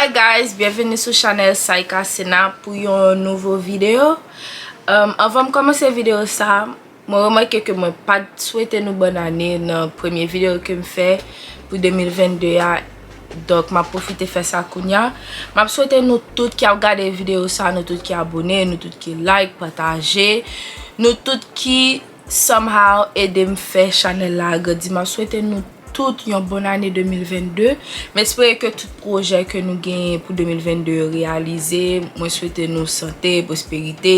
Hi guys, byenveni sou chanel Saïka Sena pou yon nouvo video. Anvan m komanse video sa, Mwen remake ke mwen pat swete nou bòn ane nan premye video kem fè pou 2022 a donk map pwofite fè sa kounya. Map swete nou tout ki ap gade video sa, nou tout ki abone, nou tout ki like, pataje, nou tout ki somehow edem fè chanèl la agrandi. Map swete nou tout yon bòn ane 2022. M espere ke tout pwojè ke nou genyen pou 2022 yo reyalize. Mwen swete nou sante, pwosperite.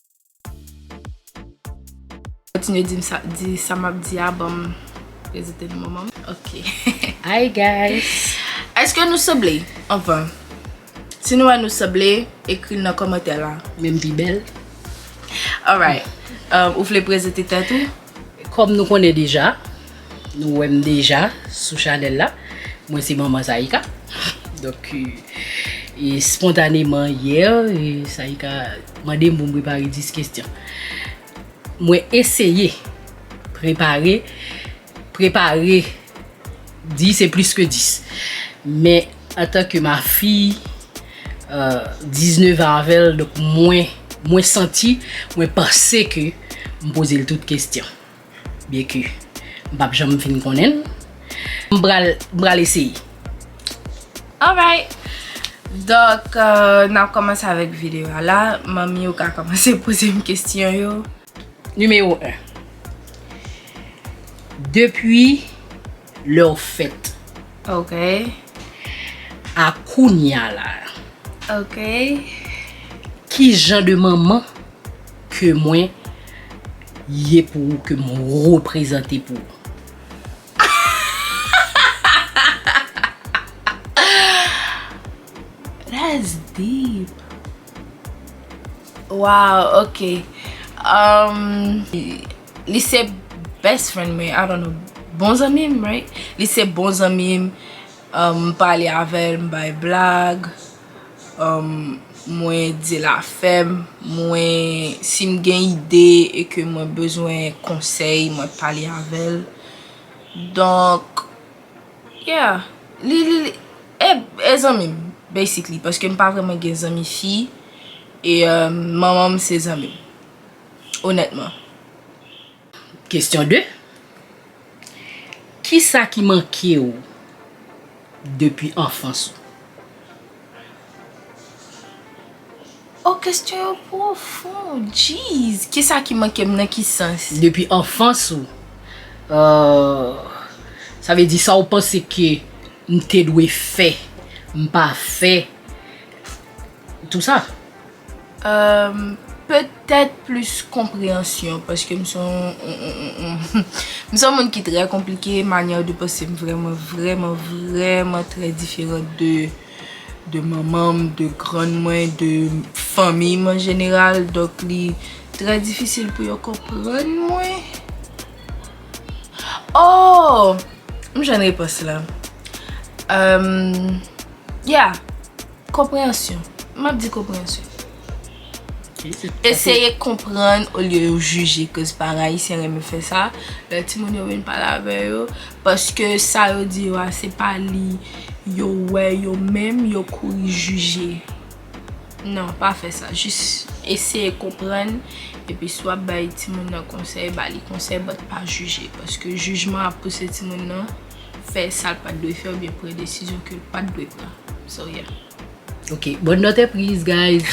Kontinye dim sa di sa map di a banm rezite nou manmanm ok hi guys eske nou sanble anvan si nou wè nou sanble ekril nan kòmantè la menm pi bèl alright ou vle prezante tèt ou kòm nou konnen deja. Nou wèm deja sou chanèl la mwen se manman Saïca donk e spontaneman yè Saïca mandem pou m prepare 10 kesyon mwen eseye prepare prepare 10 e plis ke 10 men antan ke ma fi 19 an avèl donk mwen mwen santi mwen panse ke m poze l tout kesyon. BQ m pap janm fin konnen l m pral m pral eseye alright donk nap komanse avèk videyo a la manmi yo ka komanse poze m kesyon yo nimewo 1 depi lè w fèt ok a kounya la ok kijan de manman. Ke mwen Ye pou ou ke m reprezante pou ou That's deep Waww ok Li se best friend mwen I don't know Bon zanmi m right Li se bon zanmi m M pale avè l m bay blag Mwen dil afèm, mwen sim gen ide e ke mwen bezwen konsèy mwen pale avèl. Donk, yeah, li li li, e zanmim basically paske m pa vreman gen zanmi fi e manmanm se zanmim onètman. Kesyon 2, Kisa ki manke ou depi anfans ou? Oh kesyon yo pwofon Jeez! Kisa ki manke m nan ki sans? Depi anfans ou Ahh Sa vle di sa ou panse ke m te dwe fè m pa fè Tout sa. Eum Petèt plis konpreyansyon paske m son m son moun ki trè konplike, manyè de panse m vrèman vrèman vrèman trè diferan de de manman m, de grann mwen, de fanmi m an jeneral donk li trè difisil pou yo konprann mwen Ohh m jwenn repons la Eum Yeah! Konpreyansyon. M ap di konpreyansyon. Eseye konprann olye yo jije koz paran ayisyen renmen fè sa lè timoun yo vin pale avè yo paske sa yo di yo a se pa li yo wè yo menm yo kouri jije. Non, pa fè sa. Jis eseye konprann epi si w ap bay timoun nan konsèy, ba li konsèy but pa jije paske jijman ap pouse timoun nan. fè sa l pat dwe fè oubyen pran desizyon ke l pat dwe pran so yeah. Ok bonne note prise guys.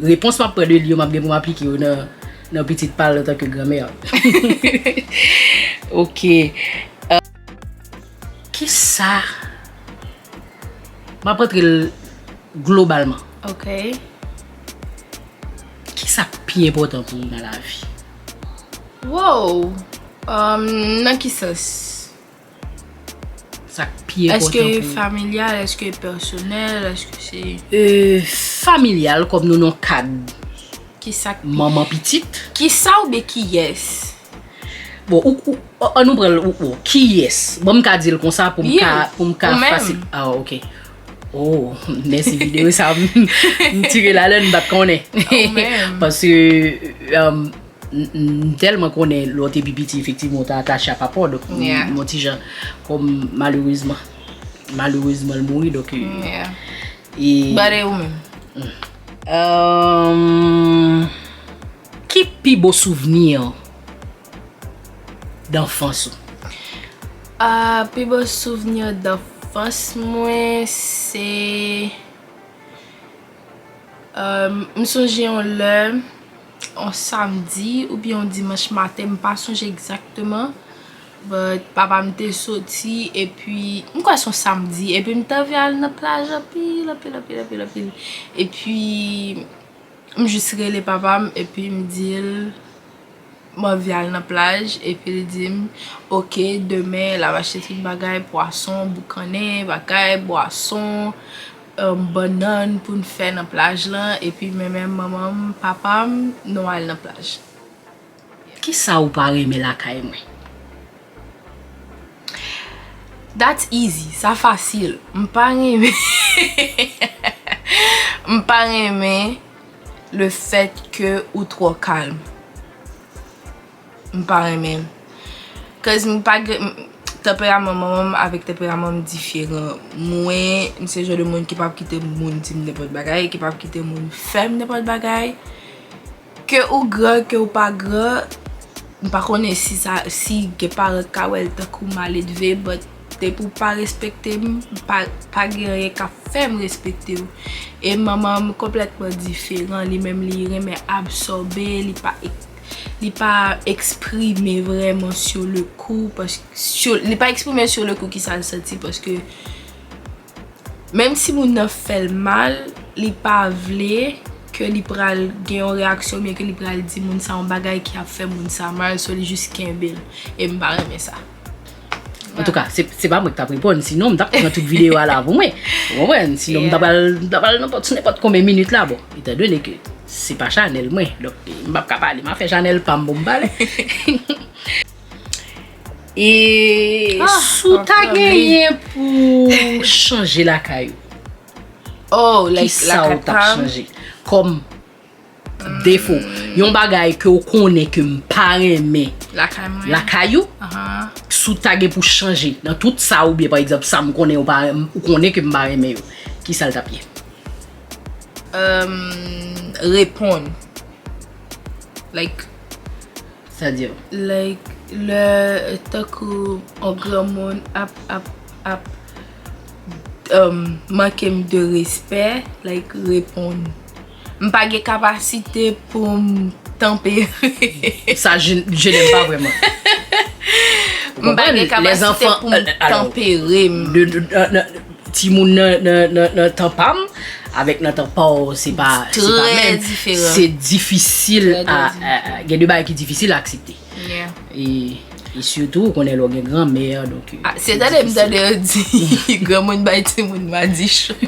Repons map pran de li yo map gen pou m aplike yo nan pitit pa l antan ke gran mère. Ok kisa map antre l globalman. Ok kisa k pi enpòtan pou ou nan lavi. Woww nan ki sans? Sa k pi enpòtan pou ou? Èske familyal, èske pèsonèl, èske se. Familyal kòm nou nan kad manman pitit. Kisa ou byen kiyès? Bon ou ou an nou pran l ou ou kiyès? Bon m ka di l konsa pou m ka fasil. Ou menm. Ah ok. Oh, mèsi videyo sa m tire la lè m bat konnen. Ou menm. Paske um, m tèlman konnen lè w te pi piti efektivman w te atache a papa w donk m on ti jan kòm malerezman malerezman l mouri donk e. But e ou menm? Um, ki pi bo souvni w? danfans ou? Ahh pi bon souvenir danfans mwen se euh m sonje yon lè yon samdi oubyen yon dimanch maten m pa sonje exactement but papa m te soti epi m kwè se yon samdi epi m t anvi al nan plaj anpil anpil anpil anpil epi m jus rele papa m epi m di l M anvi al nan plaj epi l di m ok demen l ap achte tout bagay pwason, boukannen, bagay, bwason, bannann pou n fè nan plaj lan epi mwen menm manman m, papa m nou al nan plaj. Kisa ou pa renmen lakay mwen? That's easy, sa fasil, m pa renmen, m pa renmen. Le fèt ke ou twò kalm. M pa renmen l. Cause m pa gen, tanperaman manman m avèk tanperaman m diferan. Mwen, m se jan de moun ki pap kite moun di m nenpòt bagay, ki pap kite moun fè m nenpòt bagay. Ke ou gran, ke ou pa gran, m pa konnen si sa, si gen paran k ka wè l tankou maledve but. Depi w pa respekte m, pa gen anyen k ap fè m respekte w. E manman m konplètman diferan. Li menm li renmen absòbe, li pa eksprime vrèman sou le kou, li pa eksprime sou le kou kisa l santi paske. Menm si moun nan fèl mal li pa vle ke li pral gen yon reyaksyon oubyen ke li pral di moun sa yon bagay ki ap fè moun sa mal so li jis kenbel e m pa renmen sa. Antouka se pa mwen ki tap reponn sinon m tap pran tout video a la pou mwen ou konprann sinon m ta pral nan sou nenpòt konbyen minit la bon etan done ke se pa chanèl mwen donk m pap ka pale m ap fè chanèl pam pou m pale. E si w ta genyen pou chanje lakay ou? Kisa ou ta chanje? Kòm defo, yon bagay ke ou konnen ke m pa renmen lakay ou, si w ta gen pou chanje nan tout sa ou byen pa egzanp sa m konnen ou konnen ke m pa renmen yo, kisa l t ap ye? Reponn. Like, Sa diw? Like lè tankou on granmoun ap ap ap um mankem de respè like reponn m pa gen kapasite poum tanpere Sa je n'aime pas vraiment M pa gen kapasite poum tanpere m. Timoun nan tan pa m avèk nan tan pa w se pa menm. Se difisil a, gen de bagay ki difisil a aksepte. E sitou ou konnen lè w gen granmè. Se tande m tande yo di granmoun bay timoun madichon.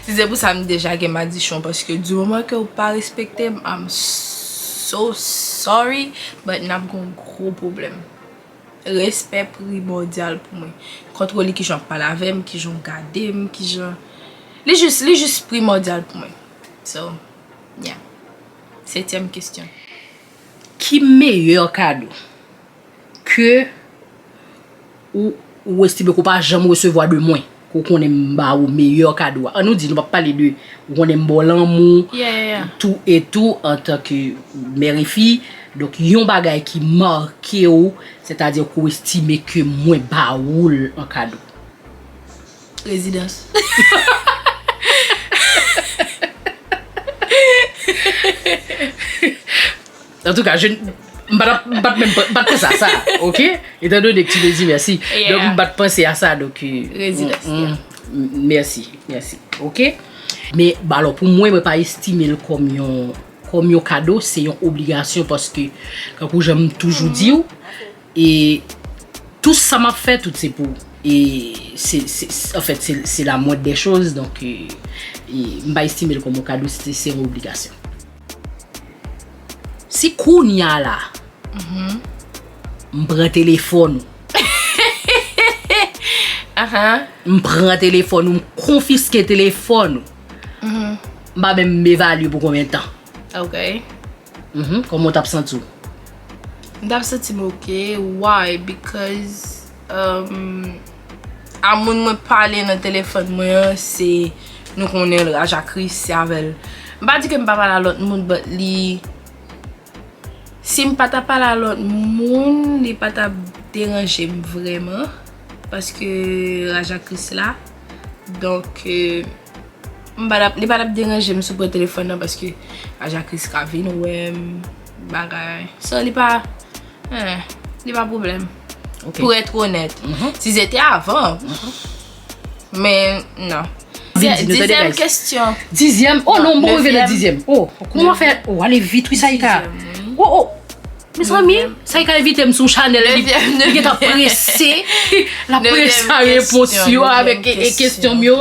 Si se pou sa m deja gen madichon paske di moman ke w pa respekte m, I'm so sorry but n ap gen yon gwo pwoblèm. Respè primòdyal pou mwen. Kontwol li kijan wap pale avèm, kijan w gadem, kijan Li jis, li jis primòdyal pou mwen. So, yeah. Setyèm kestyon. Ki meyè kado ke ou estime ke ou pa janm resevwa de mwen? Ou konnen m ba ou meyè kado a. An nou di nou pa pale de ou konnen m ba w lanmou tou e tou antan ke mère et fille. Donk yon bagay ki make w, sètadi ke w estime ke mwen ba ou l an kado. Rezidans. En tout cas, je m pa tap m pat menm m pat panse a sa ok etant donné que tu le dis merci donc m pat panse a sa donc merci merci ok mais bon alors pou mwen mwen pa estime l kòm yon kòm yon kado se yon obligasyon paske tankou jan m toujou di w e tout sa m ap fè tout se pou w e se se en fait se se la moindre des choses donc m pa estime l kòm yon kado se yon obligasyon. Si kounya la m pran telefòn ou m pran telefòn ou m konfiske telefòn ou m pa menm evalye pou konbyen tan kòman w tap santi w? M tap santi m ok why because. A moun mwen pale nan telefòn mwen an se nou konnen l raja kris se avè l m pa di ke m pa pale a lòt moun but li si m pa ta pale a lòt moun li pa ta deranje m vrèman paske raja kris la donk m pa li pa ta deranje m si w pran telefòn nan paske raja kris ka vin wè m bagay sa li pa Li pa problem Pou etre onet Si se te avan Men nan Dizyem kestyon Dizyem oh non mwen rive nan dizyem oh Kouman wap fè oh ale vit wi Saïka oh oh Mezanmi Saïka envitem sou chanèl li Li gentan prese Lap prese a repons yo Avèk kestyon m yo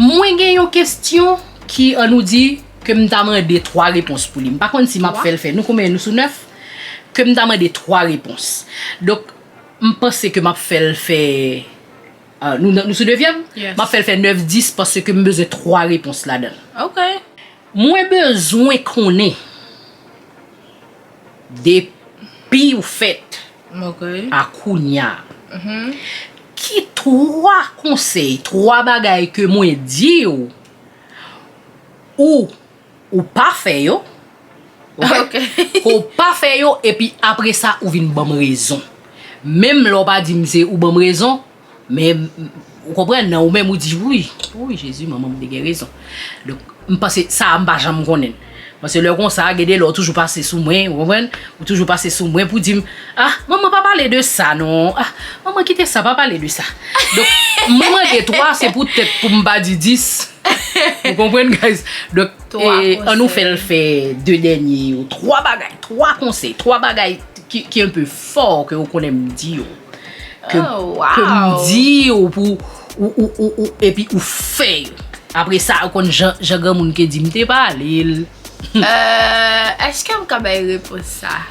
Mwen gen yon kestyon ki an nou di ke m ta mande 3 repons pou li. M pa konn si m ap fè l fè. Nou konbyen? Nou sou 9? Ke m ta mande 3 repons. Donk, m panse ke m ap fè l fè, nou sou devyèm? M ap fè l fè 9, 10 paske m bezwen 3 repons ladan l. Mwen bezwen konnen. Depiw fèt a kounya ki 3 konsèy 3 bagay ke mwen diw ou ou pa fè yo ok ou pa fè yo epi apresa ou vin banm rezon menm lè ou pa dim se ou banm rezon Men, ou konprann nan, ou menm ou di, wouyy, wouyy Jezi, manman m te gen rezon. Donk, m panse, sa a m pa janm konnen. Pase lè konsa, gen de lè ou toujou pase sou mwen, ou konprann, ou toujou pase sou mwen pou di m, ah, manman pa pale de sa non, ah, manman kite sa, pa pale de sa. Donk, m mande 3, se pou tèt pou m pa di 10. Nou konprann, guys? Donk, an nou fè l fè 2 dènye yo, 3 bagay, 3 konsèy, 3 bagay ki un peu fort ke ou konnen m di yo. Ke m di yo pou ou epi ou fè yo. Apre sa ou konn jan granmoun te di m te pale l. Eeh eske m ka bay repons sa?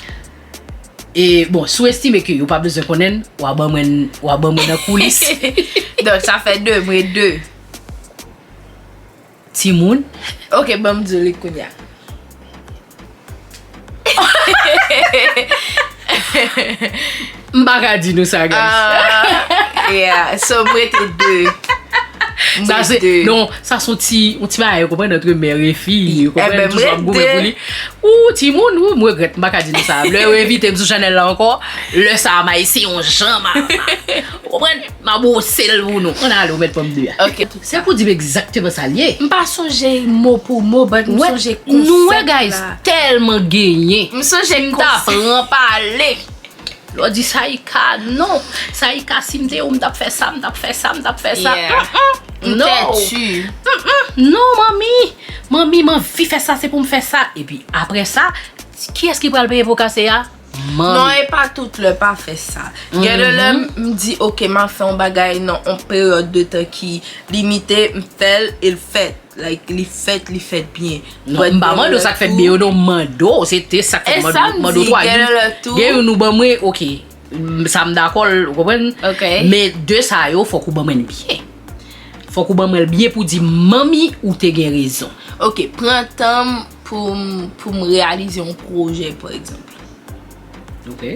E bon si w estime ke yo pa bezwen konnen l, w a ban mwen w a ban mwen nan koulis. Donk sa fè 2, m ret 2. Timoun. Ok banm diw li kounya. M pa ka di nou sa guys. Ah yeah so m rete 2. M rete 2. Non sa son ti yon ti bagay ou konprann antre mère e fi ou konprann. Ebyen m rete 2. Toujou ap goumen pou li. Ooh timoun m regrèt m pa ka di nou sa. Lè yo envite m sou chanèl la ankò lè sa m ayisyen yon jan m a. Ou konprann. Ma brose l pou nou. An ale ou met pranm 2 a. Ok. Se pou dim egzakteman sa l ye. M pa sonje mo pou mo but m sonje konsèp la. Nou wè guys telman genyen. M sonje konsèp. Si m ta pran pale. Lò di Saïca non. Saïca si m te ou m tap fè sa m tap fè sa m tap fè sa. Yeah. M tètu. Non manmi. Manmi m anvi fè sa se pou m fè sa. Epi aprè sa kiyès ki pral peye po kase a? Non e pa tout lè pa fè sa. Gen de lè m di ok m ap fè yon bagay nan yon peryòd de tan ki limite, m fè l e l fèt. Like li fèt, li fèt byen. Non, m pa mande w sa k fèt byen yo non, m mande w se te sa k fèt byen yo. M mande w 3 di m gen youn ou ban mwen ok, sa m dakò l, ou konprann? Men 2 sa yo fòk ou ban mwen l byen. Fòk ou ban mwen l byen pou di manmi ou te gen rezon. Ok, pran tan m Poum poum reyalize yon pwojè pa egzanp. Ok.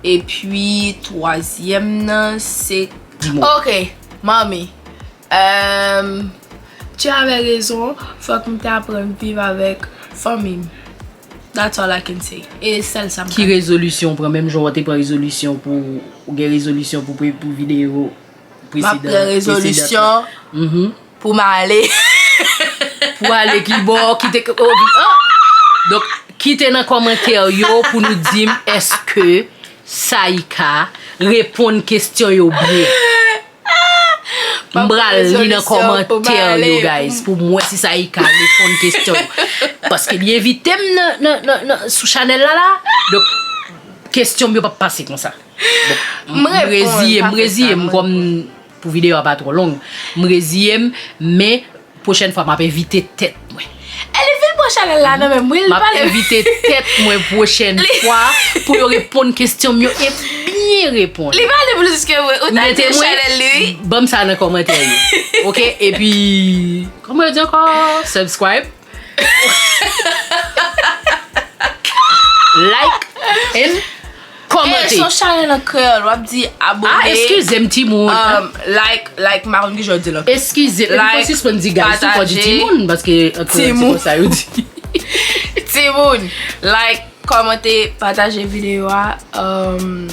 Epi twazyèm nan se. Di mo. Ok manmi emm tu avais raison fòk m te aprann viv avèk fanmi m that's all I can say e sèl sa m ka di. Ki rezolisyon ou pran menm jan ou te pran rezolisyon pou ou gen rezolisyon pou pou videyo. Map pran rezolisyon pou m ale. Pou ale ki bò? Kite k oh vin oh. Donk kite nan kòmantè yo pou nou di m eske Saïka reponn kesyon yo byen. M pral li nan kòmantè yo guys pou m wè si Saïka reponn kesyon yo. Paske li envite m nan sou chanèl la la. Donk kesyon m yo pap pase konsa. M reziye m reziye m kòm pou videyo a pa twò long m reziye m men pwochèn fwa m ap envite tèt mwen Elivil pran chanèl la nan men m wi l pale m ap envite tèt mwen pwochèn fwa pou yo reponn kesyon m yo e byen reponn Li pale plis ke mwen ou ta di chanèl li wi Banm sa nan kòmantè yo ok epi kòman yo di ankò subscribe. Like and Komante. E son chanel an kreyol wap di abone. Ah eskize m ti moun. Um like like m pa konn ki jan yo di l ankò. Eskize m fò sispann di guys tou fò di ti moun paske an kreyol se konsa yo di. Ti moun like komante pataje video a um.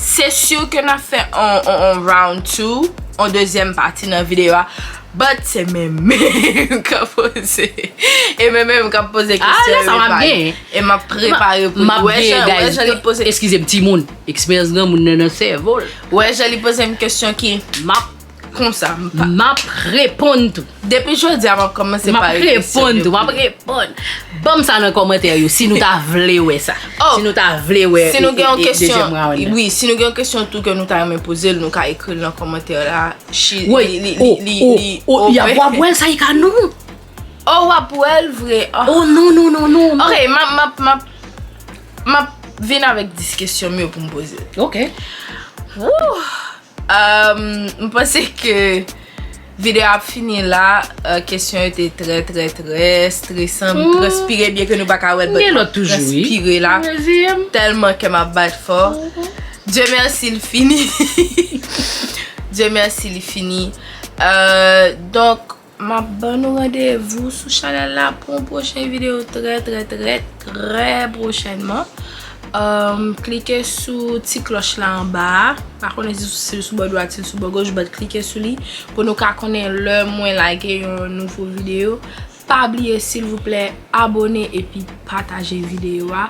Se sur ke nap fè on round 2, on dezyèm pati nan videyo a, but se men menm kap poze, e men menm kap poze kesyon yo epa li, e map prepare pou li, wè jan li poze, eskize m timoun, eksperyans granmoun nan nan sèvo l, wè jan li poze m kesyon ki, map. Konsa m pa. M ap reponn tou. Depi jodi a m ap kòmanse pa ekri. M ap reponn tou. M ap reponn. Ban m sa nan kòmantè yo si nou ta vle wè sa. Oh! Si nou ta vle wè. Si nou gen yon kesyon. Wi, si nou gen yon kesyon tou ke nou ta renmen poze l, nou ka ekri l nan kòmantè la. Shi. Woy! Li, li, li, li. Oh! Oh! Yap wap wè l Saïka non! Oh! Wap wè l vre. Oh! Oh! Non, non, non, non, non. Ok, m ap, m ap, m ap. M ap vin avèk 10 kesyon m yo pou m poze l. Ok. Wouh! M panse ke video a ap fini la Kesyon yo te trè trè trè estresan M transpire byen ke nou pa ka wè Mwen ap transpire la Telman kè m ap bat fò Dieu merci li fini Dieu merci li fini Donk Map ban nou randevou sou chanèl la pou yon pwochen videyo trè trè trè trè pwochènman. Klike sou ti klòch la anba a. Pa konnen si l sou bò dwat, si l sou bò goch but klike sou li pou nou ka konnen lè mwen lage yon nouvo videyo. Pa bliye silvouplè abone epi pataje videyo a.